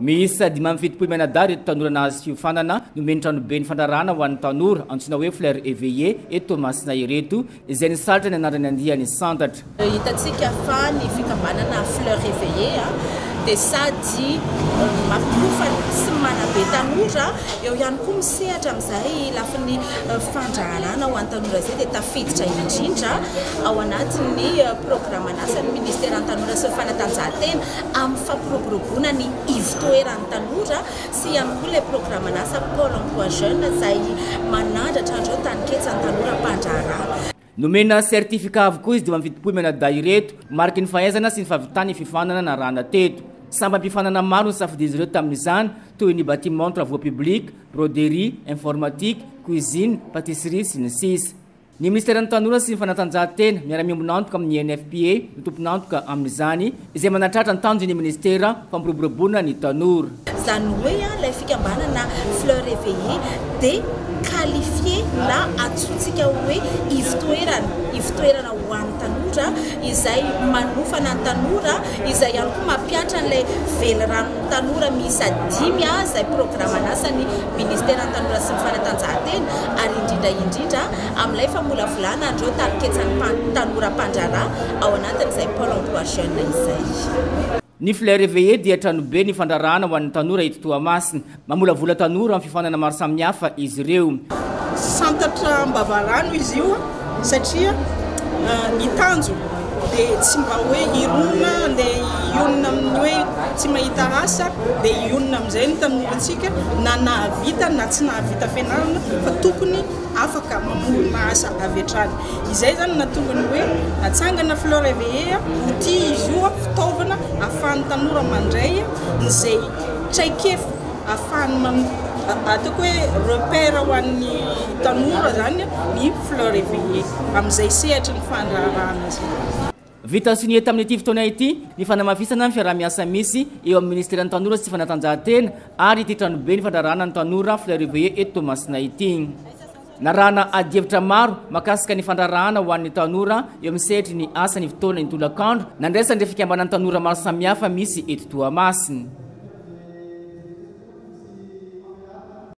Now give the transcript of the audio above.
Miisa dimy amby fitopolo mianadahy ireto tanora nahazo fiofanana nomeny tranoben'ny fandraharahana ho an'ny tanora antsoina hoe Fleurs Eveillées eto Toamasina ireto, izay nisalotra ny anarany andiany Santatra. Hitantsika fa ny fikambanana Fleurs Eveillées dia sady mampitohy fa tsy manabe tanora, eo ihany koa misehatra amin'izay lafiny fandraharahana ho an'ny tanora izay dia tafiditra indrindra ao anatin'ny programan'ny. Asan'ny Ministeran'ny Tanora sy ny Fanatanjahantena amin'ny fampiroboroboana ny ivo-toeran'ny tanora sy ihany koa ilay programan'asa Pôle Emploi Jeune izay manandratra an'ireo taninketsan'ny tanora mpandraharaha. Nomena certificat avokoa izy dimy amby fitopolo mianadahy ireto, mariky ny fahaizana sy ny fahavitany ny fifaninana narahana teto. Sambam pifanana maro ny safidian'izy ireo tamin'izany, toy ny Bâtiments, Travaux Publics, Broderie, Informatique, Cuisine, Pâtisserie, sy ny sisa. Ny Ministeran'ny Tanora sy ny Fanatanjahantena, miara-miombon'antoka amin'ny NFPA, no tompon'antoka amin'izany, izay manatratra ny tanjon'ny Ministera, fampiroboroboana ny tanora. Izany hoe ilay fikambanana Fleurs Eveillées dia qualifié na antsointsika hoe ivo-toerana, ivo-toerana ho an'ny tanora izay manofana ny tanora Izay ihany koa mampihatra an'ilay veliranon'ny tanora miisa dimy izay programan'asan'ny Ministeran'ny Tanora sy ny Fanatanjahantena ary indrindra indrindra amin'ilay famolavolana an'ireo tariketsan'ny tanora mpandraharaha ao anatin'izay Pôle Emploi Jeune izay. Ny Fleury Éveillé dia tranobe nifandraharahana ho an'ny tanora eto Toamasina. Mamolavola tanora amin'ny fifaninana maro samihafa izy ireo. Tsy santatra am-bavarano izy io satria ny tanjony dia tsy mba hoe hirona le hionona amin'ny hoe tsy mahita asa dia hionona amin'izay ny tanorantsika na nahavita na tsy nahavita fianarana fa tokony afaka mamorona asa avy hatrany. Izay izany no nahatonga ny hoe natsangana Fleur Eveillée, outil izy io, fitaovana ahafahan'ny tanora mandray izay traikefa afahany man ataoko hoe repère ho an'ny tanora zany ny fleur éveillé amin'izay sehatry ny fandraharahana zay. Vita sy nihe tamin'ity fotoana ity ny fanamafisana ny fiaraha-miasa misy eo amin'ny Ministeran'ny Tanora sy Fanatanjahantena ary ity tranoben'ny fandraharahana ny tanora Fleur Éveillé eto Toamasina ity. Narahana adihevitra maro makasika ny fandraharahana ho an'ny tanora eo amin'ny sehatry ny asa ny fotoana nitolakandro nandraisan'ireo fikambanan'ny tanora maro samihafa misy eto Toamasina.